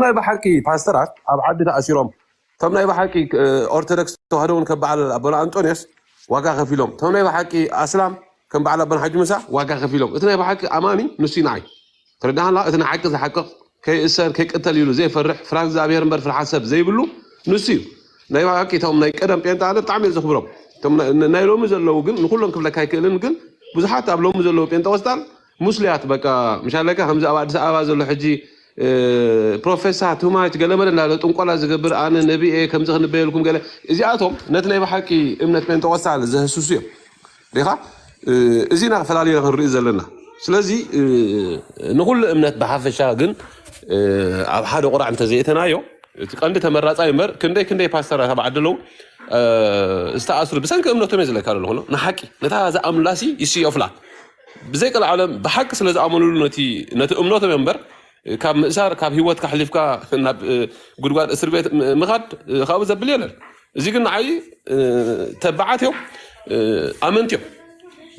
ናይ ብሓቂ ፓስተራት ኣብ ዓዲ ተኣሲሮም እቶም ናይ ብሓቂ ኦርቶዶክስ ተዋህዶ እውን ከም በዓል ኣቦና ኣንጦንዮስ ዋጋ ከፊሎም እቶም ናይ ብሓቂ ኣስላም ከም በዓል ኣቦና ሓጂ ምሳ ዋጋ ከፊሎም እቲ ናይ ብሓቂ ኣማኒ ንሱ ንዓይ ተረዳሃላ እቲ ናይ ሓቂ ዝሓቅቕ ከይእሰር ከይቅተል ይብሉ ዘይፈርሕ ፍራ እግዚኣብሔር እምበር ፍርሓት ሰብ ዘይብሉ ንሱ እዩ ናይ ብሓቂ እቶም ናይ ቀደም ጴንጣ ኣነ ብጣዕሚ እየ ዘኽብሮም እቶም ናይ ሎሚ ዘለዉ ግን ንኩሎም ክብለካ ኣይክእልን ግን ብዙሓት ኣብ ሎሚ ዘለዉ ጴንጠቆስጣል ሙስሊያት በቃ ምሻለካ ከምዚ ኣብ ኣዲስ ኣበባ ዘሎ ሕጂ ፕሮፌሳ ቱማች ገለመለ እንዳለ ጥንቆላ ዝገብር ኣነ ነቢ እየ ከምዚ ክንበየልኩም ገለ እዚኣቶም ነቲ ናይ ብሓቂ እምነት ጴንጠቆስታል ዘህስሱ እዮም ሪኻ እዚ ኢና ፈላልዮ ክንርኢ ዘለና ስለዚ ንኩሉ እምነት ብሓፈሻ ግን ኣብ ሓደ ቁራዕ እንተዘይእተናዮ እቲ ቀንዲ ተመራፃይ እምበር ክንደይ ክንደይ ፓስተራት ኣብ ዓዲ ኣለዉ ዝተኣስሩ ብሰንኪ እምነቶም እየ ዝለካ ዘለኹ ንሓቂ ነታ ዝኣምኑላሲ ይስዮፍላ ብዘይ ቀልዓለም ብሓቂ ስለ ዝኣመኑሉ ነቲ ነቲ እምነቶም እዮም እምበር ካብ ምእሳር ካብ ህይወት ካሕሊፍካ ናብ እ፣ ጉድጓድ እስር ቤት ም- ምኻድ እ፣ ካብኡ ዘብል የለን እዚ ግን ንዓይ እ፣ ተባዓት እዮም እ፣ ኣመንቲ እዮም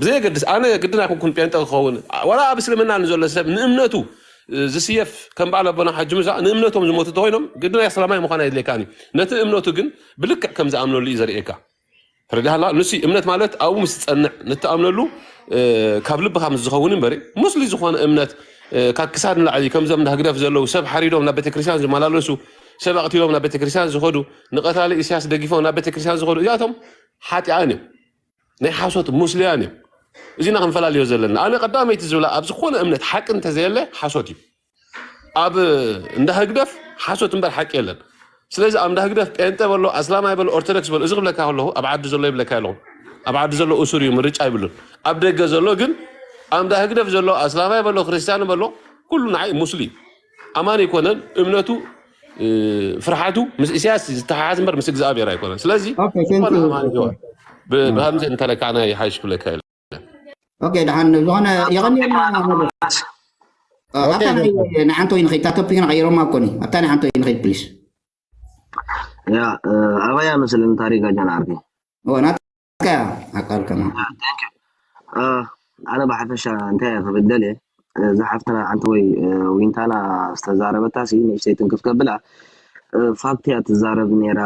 ብዘየገድስ ኣነ ግድን ኣይኮንኩን ጴንጠ ክኸውን ዋላ ኣብ እስልምና ንዘሎ ሰብ ንእምነቱ እ፣ ዝስየፍ ከም በዓል ኣቦና ሓጂ ሙሳ ንእምነቶም ዝሞቱ ተኮይኖም ግድን ኣስላማይ ምዃን ኣይድልየካን እዩ ነቲ እምነቱ ግን ብልክዕ ከም ዝኣምነሉ እዩ ዘርእየካ ተረዳሃላ ንሱ እምነት ማለት ኣብኡ ምስ ትጸንዕ ንትኣምነሉ ካብ ልብኻ ምስ ዝኸውን እምበሪ ሙስሊ ዝኾነ እምነት ካብ ክሳድ ንላዕሊ ከምዞም እንዳ ህግደፍ ዘለዉ ሰብ ሓሪዶም ናብ ቤተክርስትያን ዝመላለሱ ሰብ ኣቕቲሎም ናብ ቤተክርስትያን ዝኸዱ ንቐታሊ ኢሳያስ ደጊፎም ናብ ቤተክርስትያን ዝኸዱ እዚኣቶም ሓጢኣን እዮም ናይ ሓሶት ሙስልያን እዮም እዚና ክንፈላልዮ ዘለና ኣነ ቀዳመይቲ ዝብላ ኣብ ዝኾነ እምነት ሓቂ እንተዘየለ ሓሶት እዩ ኣብ እንዳ ህግደፍ ሓሶት እምበር ሓቂ የለን ስለዚ ኣብ እንዳ ህግደፍ ጴንጠ በሎ ኣስላማይ በሎ ኦርቶዶክስ በሎ እዚ ክብለካ ከለኹ ኣብ ዓዲ ዘሎ ይብለካ ኣለኹ ኣብ ዓዲ ዘሎ እሱር እዩ ምርጫ ይብሉን ኣብ ደገ ዘሎ ግን ኣብ እንዳ ህግደፍ ዘሎ ኣስላማይ በሎ ክርስቲያን በሎ ኩሉ ንዓይ ሙስሊም ኣማን ኣይኮነን እምነቱ እ፣ ፍርሓቱ ምስ ኢሳያስ ዝተሓሓዝ እምበር ምስ እግዚኣብሔር ኣይኮነን ስለዚ ኦኬ ቴንክ ዝኾነ ዩ ኣማን ዶክተር ይሆን ብ- ብሃምዘ እንተለካዕና ይሓይሽ ክብለካ እየ ኦኬ ደሓን ዝኾነ የቐንየልና መለስ ኣብታ ናይ ንሓንቲ ወይ ንኸይድ እታ ቶፒክ ንቐይሮማ ኮኒ ኣብታ ናይ ሓንቲ ወይ ንኸይድ ፕሊስ ያ ኣበያ መስልን ታሪክ ኣጃና ዓርኪ ናትካ ኣቃል ከማ ኣነ ብሓፈሻ እንታይ ክብል ደልየ እዛ ሓፍትና ሓንቲ ወይ ዊንታና ዝተዛረበታ ሲ ንእሽተይ ትንክፍ ከብላ ፋክት እያ ትዛረብ ነይራ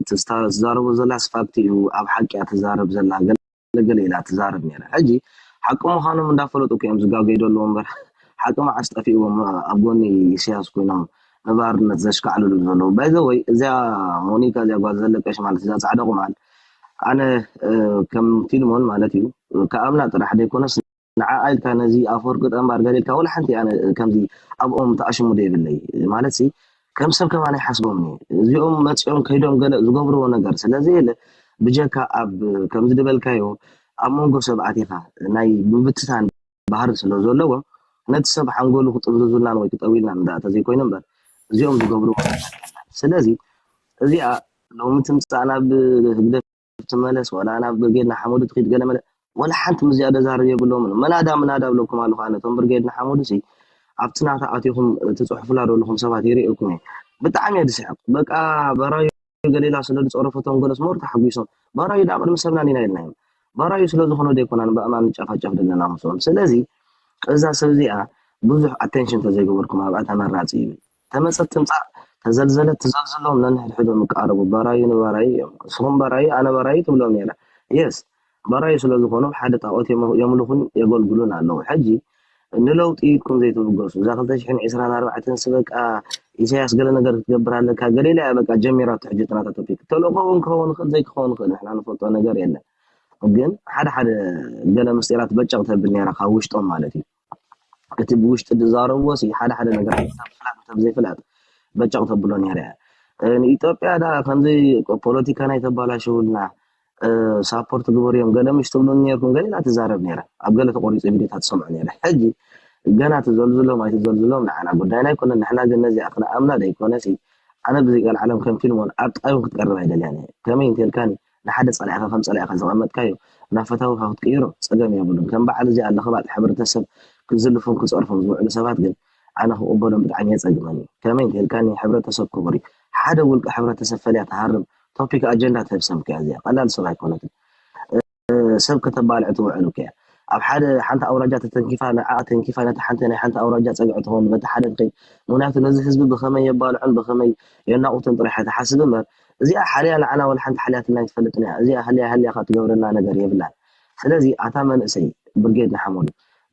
ትዛረቦ ዘላስ ፋክት እዩ ኣብ ሓቂ እያ ትዛረብ ዘላ ገለገለ ኢላ ትዛረብ ኔራ ሕጂ ሓቂ ምኻኖም እንዳፈለጡ እኮ እዮም ዝጋገዩ ዘለዉ እምበር ሓቂ መዓስ ጠፊእዎም ኣብ ጎኒ ኢሰያስ ኮይኖም ንባርነት ዘሽካዕልሉ ዘለዉ ባይ ዘ ወይ እዚኣ ሞኒካ እዚኣ ጓል ዘለቀሽ ማለት እዛ ጻዕዳ ቁማል ኣነ ከም ፊልሞን ማለት እዩ ከኣምና ጥራሕ ዘይኮነስ ንዓኣ ኢልካ ነዚ ኣፈወርቂ ጠንባር ገለ ኢልካ ወላ ሓንቲ ኣነ ከምዚ ኣብኦም ተኣሽሙዶ የብለይ ማለትሲ ከም ሰብ ከማን ኣይሓስቦምን እየ እዚኦም መፂኦም ከይዶም ገለ ዝገብርዎ ነገር ስለዘየለ ብጀካ ኣብ ከምዚ ዝበልካዮ ኣብ መንጎ ሰብ ኣቲኻ ናይ ምብትታን ባህሪ ስለ ዘለዎም ነቲ ሰብ ሓንጎሉ ክጥምዝዙልናን ወይ ክጠውልናን እንዳ ተዘይኮይኑ እምበር እዚኦም ዝገብርዎ ስለዚ እዚኣ ሎሚ ትምፃእ ናብ ህግደፍ ትመለስ ወላ ናብ ብርጌድ ንሓመዱ ትኺድ ገለመለ ወላ ሓንቲ ምስ እዚኣ ደዛርብ የብሎምን መናዳ ምናዳ እብለኩም ኣለኹ ኣነ እቶም ብርጌድ ንሓመዱሲ ኣብቲ ናታ ኣቲኹም ትጽሕፉላ ዘለኹም ሰባት ይርእየኩም እየ ብጣዕሚ እየ ዝስሕቕ በቃ በራዩ ገሊላ ስለ ዝጸረፈቶም ገለስ ሞር ተሓጒሶም በራዩ ደኣ ቅድሚ ሰብና ኒና ኢልናዮም በራዩ ስለ ዝኾኑ ደይኮናን በእማን ንጨፋጨፍ ዘለና ምስኦም ስለዚ እዛ ሰብ እዚኣ ብዙሕ ኣቴንሽን ተዘይገበርኩም ኣብኣ ተመራጺ ይብል ተመጸት ትምጻእ ተዘልዘለት ትዘልዝሎም ነንሕድሕዶም ይቃረቡ ባራዩ ንባራዩ እዮም እስኹም ባራዩ ኣነ ባራዩ ትብሎም ኔራ yes ባራዩ ስለ ዝኾኑ ሓደ ጣኦት የምልኹን የገልግሉን ኣለዉ ሕጂ ንለውጢ ኢልኩም ዘይትብገሱ እዛ ክልተ ሽሕን ዒስራን ኣርባዕተን ስበቃ ኢሳያስ ገለ ነገር ክትገብር ኣለካ ገሌላ እያ በቃ ጀሚራቶ ሕጂ ጥናታ ቶፒክ ተልእኮ እውን ክኸውን ይኽእል ዘይክኸውን ይኽእል ንሕና ንፈልጦ ነገር የለን ግን ሓደ ሓደ ገለ ምስጢራት በጨቕ ተብል ኔራ ካብ ውሽጦም ማለት እዩ እቲ ብውሽጢ ድዛረብዎ ሲ ሓደ ሓደ ነገራት ሰብ ፍላጥ ሰብ ዘይፍላጥ በጨቕ ተብሎ ነይረ እያ ንኢትዮጵያ ዳ ከምዚ ፖለቲካ ናይ ተባላሽውልና ሳፖርት ግበሩ እዮም ገለ ምሽ ትብሉ ነርኩም ገለ ትዛረብ ነይረ ኣብ ገለ ተቆሪፁ ቪዲዮታት ትሰምዑ ነይረ ሕጂ ገና ትዘልዝሎም ኣይትዘልዝሎም ንዓና ጉዳይና ኣይኮነን ንሕና ግን ነዚኣ ክንኣምና ደይኮነሲ ኣነ ብዘይቀልዓለም ከም ፊልሞን ኣብ ጥቃዩ ክትቀርብ ኣይደልያን እየ ከመይ እንተልካኒ ንሓደ ጸላኢኻ ከም ጸላኢኻ ዘቐመጥካዮ ናብ ፈታዊኻ ክትቅይሮ ጸገም የብሉን። ከም በዓል እዚኣ ለኽባጥ ሕብረተሰብ ክዝልፉን ክጸርፉን ዝውዕሉ ሰባት ግን ኣነ ክቕበሎም ብጣዕሚ የጸግመኒ። ከመይ እንተኢልካኒ ሕብረተሰብ ክቡር እዩ። ሓደ ውልቀ ሕብረተሰብ ፈልያ ትሃርም ቶፒክ ኣጀንዳ ትህብ ሰብ እኮ'ያ እዚኣ። ቀላል ሰብ ኣይኮነትን። ሰብ ከተባልዕ ትውዕል እኮ'ያ። ኣብ ሓደ ሓንቲ ኣውራጃ ተተንኪፋ ንዓኣ ተንኪፋ ነታ ሓንቲ ናይ ሓንቲ ኣውራጃ ጸግዒ ትኸውን በቲ ሓደ ድኺ ምኽንያቱ ነዚ ህዝቢ ብኸመይ የባልዑን ብኸመይ የናቑቱን ጥራሕ እያ ትሓስብ እምበር እዚኣ ሓልያ ንዓና ወላ ሓንቲ ሓልያትና ኣይትፈልጥን እያ እዚኣ ሃልያ ሃልያካ ትገብረና ነገር የብላን ስለዚ ኣታ መንእሰይ ብርጌድ ንሓመዱ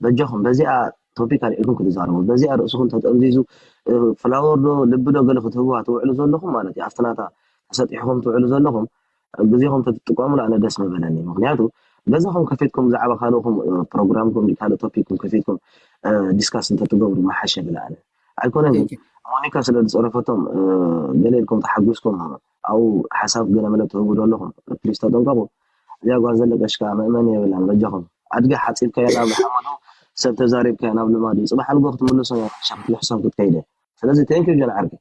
በጃኩም በዚኣ ቶፒክ ኣልዒልኩም ክትዛረቡ በዚኣ ርእስኩም ተጠምዚዙ ፍላወር ዶ ልቢ ዶ ገለ ክትህብዋ ትውዕሉ ዘለኩም ማለት እዩ ኣብቲ ናታ ተሰጢሕኩም ትውዕሉ ዘለኩም ግዜኩም ተትጥቀሙሉ ኣነ ደስ ምበለኒ ምክንያቱ ገዛኩም ከፊትኩም ብዛዕባ ካልእኩም ፕሮግራምኩም ካልእ ቶፒክኩም ከፊትኩም ዲስካስ እንተትገብሩ ምሓሸ ብላ ኣነ ኣይኮነን ግን ሞኒካ ስለ ዝጸረፈቶም ገለ ኢልኩም ተሓጒስኩም ኣብኡ ሓሳብ ገለ መለ ትህቡ ዶ ኣለኹም ፕሊስ ተጠንቀቑ እዚኣ ጓል ዘለቀሽ ከኣ መእመኒ የብላን በጃኹም ኣድጊ ሓጺብካዮ ናብ ሓመዱ ሰብ ተዛሪብካዮ ናብ ልማዱ ጽባሕ ንጎ ክትምልሶ እያ ሸኽትልሕሶም ክትከይደ ስለዚ ቴንኪ ጀን ዓርከይ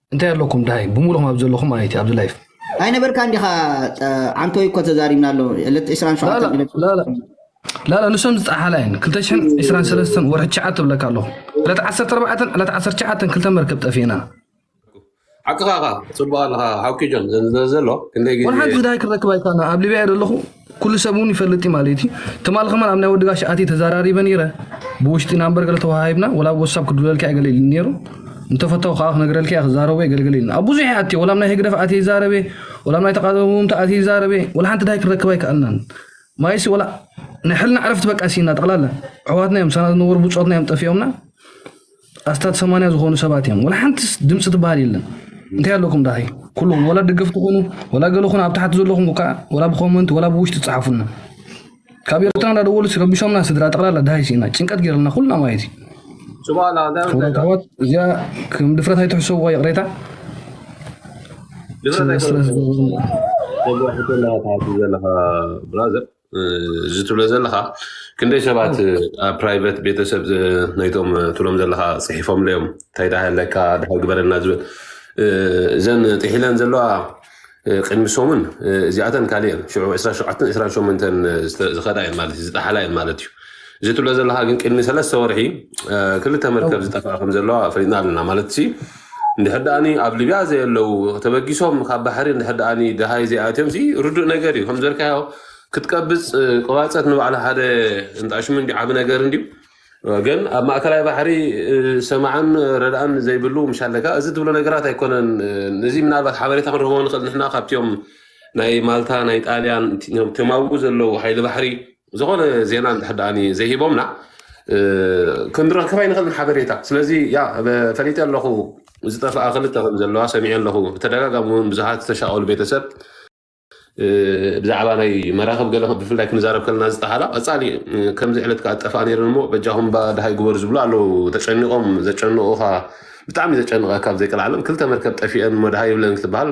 እንታይ ኣለኩም ድሃይ ብሙሉኹም ኣብ ዘለኹም ማለት እዩ ኣብዚ ላይፍ ኣይነበርካን ዲኻ ዓንቶይ እኮ ተዛሪብና ኣሎ ዕለት 27 ላላ ንሶም ዝፀሓላ እየን 223 ወርሒ ትሽዓ ትብለካ ኣለኹ ዕለት 14 ዕለት 19 ክልተ መርከብ ጠፊእና ሓቅኻ ኻ ፅቡቅ ኣለኻ ሓውኪ ጆን ዘሎ ክንደይ ግዜ ወሓንቲ ዝዳይ ክረክብ ኣይካና ኣብ ሊብያ ዘለኹ ኩሉ ሰብ እውን ይፈልጥ እዩ ማለት እዩ ትማል ከማን ኣብ ናይ ወዲ ጋሽ ኣትየ ተዘራሪበ ነይረ ብውሽጢ ናምበር ገለ ተወሃሂብና ወላ ኣብ ወሳብ ክድውለልካ እየ ገለ ኢሉ ነይሩ እንተፈታው ከዓ ክነግረልካ እየ ክዛረቦ እየ ገለገለ ኢልና ኣብ ብዙሕ እየ ኣትየ ወላ ኣብ ናይ ህግደፍ ኣትየ ይዛረበ ወላ ኣብ ናይ ተቃወምቲ ኣትየ ይዛረበ ወላ ሓንቲ ድሃይ ክንረክብ ኣይከኣልናን ማይሲ ወላ ናይ ሕልና ዕረፍቲ በቃ ሲና ጠቕላላ ኣሕዋትና እዮም ምሳና ዝነበሩ ብፆትና እዮም ጠፊኦምና ኣስታት ሰማንያ ዝኾኑ ሰባት እዮም ወላ ሓንቲ ድምፂ ትበሃል የለን እንታይ ኣለኩም ዳኸይ ኩሉኹም ወላ ደገፍቲ ኮኑ ወላ ገለ ኮኑ ኣብ ታሕቲ ዘለኹም ከዓ ወላ ብኮመንት ወላ ብውሽጢ ፀሓፉና ካብ ኤርትራ እንዳደወሉ ረቢሾምና ስድራ ጠቕላላ ዳሃይ ሲኢና ጭንቀት ገይርልና ኩልና ማለት እዩ ኣሕዋት እዚኣ ከም ድፍረት ኣይትሕሰብዋ ይቕሬታ ዘለኻ ብራዘር እዚ ትብሎ ዘለካ ክንደይ ሰባት ኣብ ፕራይቨት ቤተሰብ ናይቶም ትብሎም ዘለካ ፅሒፎም ለዮም እንታይ ዳ ሃለካ ድሃይ ግበረና ዝብል እዘን ጥሒለን ዘለዋ ቅድሚ ሰሙን እዚኣተን ካልእ እየን ሽዑ 27 28 ዝኸዳ እየን ማለት እዩ ዝጠሓላ እየን ማለት እዩ እዚ ትብሎ ዘለካ ግን ቅድሚ ሰለስተ ወርሒ ክልተ መርከብ ዝጠፍኣ ከም ዘለዋ ፈሊጥና ኣለና ማለት እንድሕር ድኣኒ ኣብ ሊብያ ዘየለዉ ተበጊሶም ካብ ባሕሪ እንድሕር ድኣኒ ደሃይ ዘይኣትዮም ሲ ርዱእ ነገር እዩ ከምዘልካዮ ክትቀብጽ ቅባጸት ንባዕላ ሓደ እንጣሽሙ እንዲ ዓቢ ነገር እንዲዩ ግን ኣብ ማእከላይ ባሕሪ ሰማዕን ረድኣን ዘይብሉ ምሻለካ እዚ ትብሎ ነገራት ኣይኮነን እዚ ምናልባት ሓበሬታ ክንረክቦ ንኽእል ንሕና ካብትዮም ናይ ማልታ ናይ ጣልያን ተማውኡ ዘለዉ ሓይሊ ባሕሪ ዝኾነ ዜና እንድሕር ደኣኒ ዘይሂቦምና እ፣ ክንረክብ ኣይንኽእልን ሓበሬታ ስለዚ ያ በ- ፈሊጠ ኣለኹ ዝጠፍኣ ክልተ ከም ዘለዋ ሰሚዐ ኣለኹ ብተደጋጋሚ እውን ብዙሓት ዝተሻቐሉ ቤተሰብ እ፣ ብዛዕባ ናይ መራኽብ ገለ ብፍላይ ክንዛረብ ከለና ዝጠሃላ ቀፃሊ እ፣ ከምዚ ዕለት ከዓ ጠፍኣ ነይረን እሞ በጃኹም ባ ድሃይ ግበሩ ዝብሉ ኣለዉ ተጨኒቖም ዘጨንቑኻ ብጣዕሚ ዘጨንቐካ ኣብ ዘይቅልዓለም ክልተ መርከብ ጠፊአን እሞ ድሃይ ይብለን ክትበሃል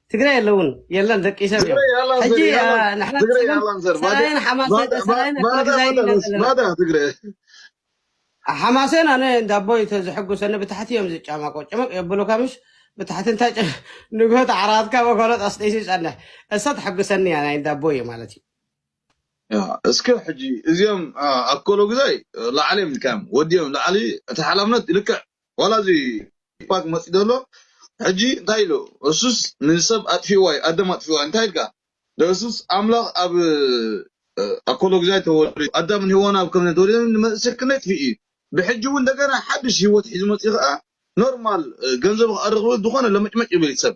ትግራይ የለውን የለን ደቂ ሰብ እዮም ትግራይ ያላን ሕጂ ዘር ያላን አ፣ ንሕና ትግራይ ንስለም ያላን ዘር ባዳ ሰራይን ሓማሰ ባዳ ባ- ሰራይን ባዳ ኣክረግዛይን ባዳ ኢና ርስ ዘለና ባዳ ትግራይ ሓማሴን ኣነ እንዳ ኣቦይ ተ ዝሕጉሰኒ ብታሕቲ እዮም ዝጫማቆ ጭምቅ የብሉካ ምሽ ብታሕቲ እንታይ ጭ ንግሆት ዓራትካ ወኮሎት ኣስጢሱ ይፀንሕ እሳ ትሕጉሰኒ እያ ናይ እንዳ ኣቦይ እዩ ማለት እዩ ያ፣ እስከ ሕጂ እዚኦም አ፣ ኣኮሎ ግዛይ ላዕሊ እዮም ልካዮም ወዲኦም ላዕሊ እቲ ሓላፍነት ልክዕ ዋላ እዚ ቱፓክ መጺኡ ዶ ኣሎ ሕጂ እንታይ ኢሉ እሱስ ንሰብ ኣጥፊእዋ እዩ ኣደም ኣጥፊእዋ እንታይ ኢልካ ዶ እሱስ ኣምላኽ ኣብ ኣኮሎግዛይ ተወሊዱ ኣዳምን ሄዋን ኣብ ከምነ ተወሊዶም ንመንእሰይ ክንደይ ጥፊእ እዩ ብሕጂ እውን እንደገና ሓድሽ ሂወት ሒዙ መጺኡ ከኣ ኖርማል ገንዘቡ ክኣ ረኽቡ ዝኾነ ለመጭመጭ ይብል እዩ ሰብ